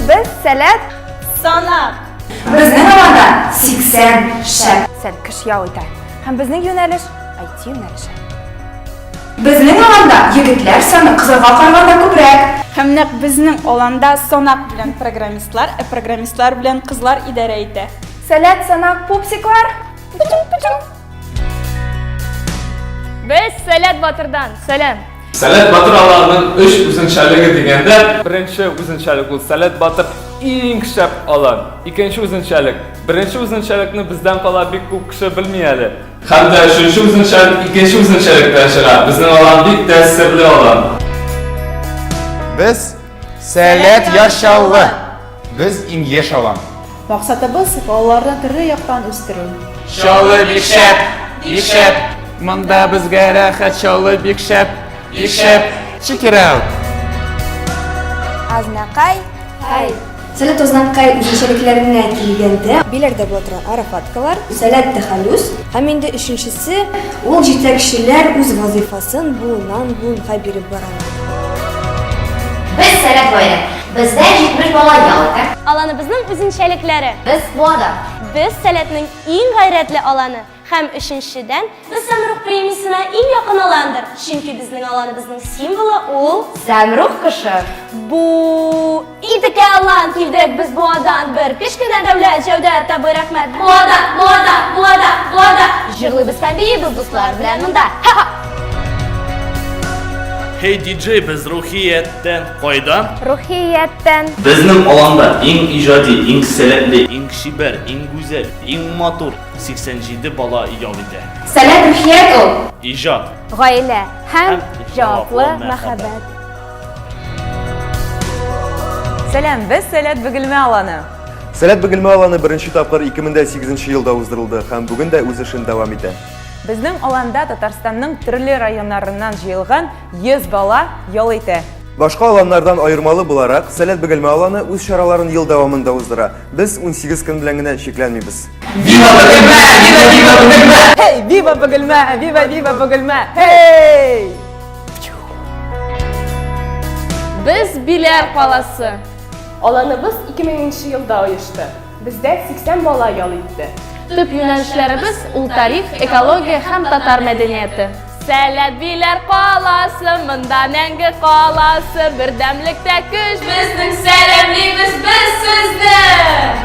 Без сәләт санап. Безнең аларда 80 шәп. Сән кеш ял итә. Һәм безнең юнәлеш IT юнәлеше. Безнең аланда егетләр саны кызларга караганда күбрәк. Һәм нәкъ безнең аланда санак белән программистлар, ә программистлар белән кызлар идарә итә. Сәләт санак пупсиклар. Путин, путин. Без Сәләт Батырдан сәлам. Сәләт Батыр аларның өч үзенчәлеге дигәндә, беренче үзенчәлек ул Сәләт Батыр иң шәп алар. Икенче үзенчәлек. Беренче үзенчәлекне бездән кала бик күп кеше белми әле. Һәм дә өченче үзенчәлек икенче үзенчәлектән чыга. Безнең алан бик тә серле алан. Без Сәләт Яшь Чаллы. Без иң еш алам. Максатыбыз, балаларны төрле яктан үстерү. Чалы бик шәп, бик шәп. Монда безгә рәхәт, чалы бик шәп, бик шәп. Check it out. Азнакай, хай. Сәләт Азнакай үзенчәлекләренә килгәндә. Биләрдә була торган арафаткалар. Сәләт тәхәллүс. Һәм инде өченчесе. Ул җитәкчеләр үз вазыйфасын буыннан-буынга биреп баралар. Без сәләт гаилә. Бездә 70 бала ял итә. Аланыбызның үзенчәлекләре. Без Буада. Без Сәләтнең иң гайрәтле аланы һәм, өченчедән, без Сәмрух премиясенә иң якын аландыр, чөнки безнең аланыбызның символы ул, Сәмрух кошы. Бу Идекә алан, килдек без Буадан, бер кечкенә дәүләт, Җәүдәт абый, рәхмәт, Буада, Буада, Буада, Буада! Җырлыйбыз һәм биибез дуслар белән монда! Ха-ха! Һей, диджей, без Рухияттән! Кайдан? Рухияттән. Безнең аланда иң иҗади, иң сәләтле, иң чибәр, иң гүзәл, иң матур 87 бала ял итә. Сәләт рухият ул. Иҗат. Гаилә һәм җаваплы мәхәббәт. Сәлам, без Сәләт Бөгелмә аланы. Сәләт Бөгелмә аланы беренче тапкыр 2008 елда уздырылды һәм бүген дә үз эшен дәвам итә. Безнең аланда Татарстанның төрле районнарыннан җыелган 100 бала ял итә. Башка аланнардан аермалы буларак, Сәләт Бөгелмә аланы үз чараларын ел дәвамында уздыра. Без 18 көн белән генә чикләнмибез. Вива Бөгелмә! Вива Вива Бөгелмә! Эй, Вива Бөгелмә! Вива Вива Бөгелмә! Эй! Без Биләр каласы. Аланыбыз 2000 елда оешты. Бездә 80 бала ял итте. Төп юнәлешләребез, ул тарих, экология һәм татар мәдәнияте. Сәләбиләр каласы, монда мәңге каласы, бердәмлектә көч! Безнең сәләмлибез без сезне!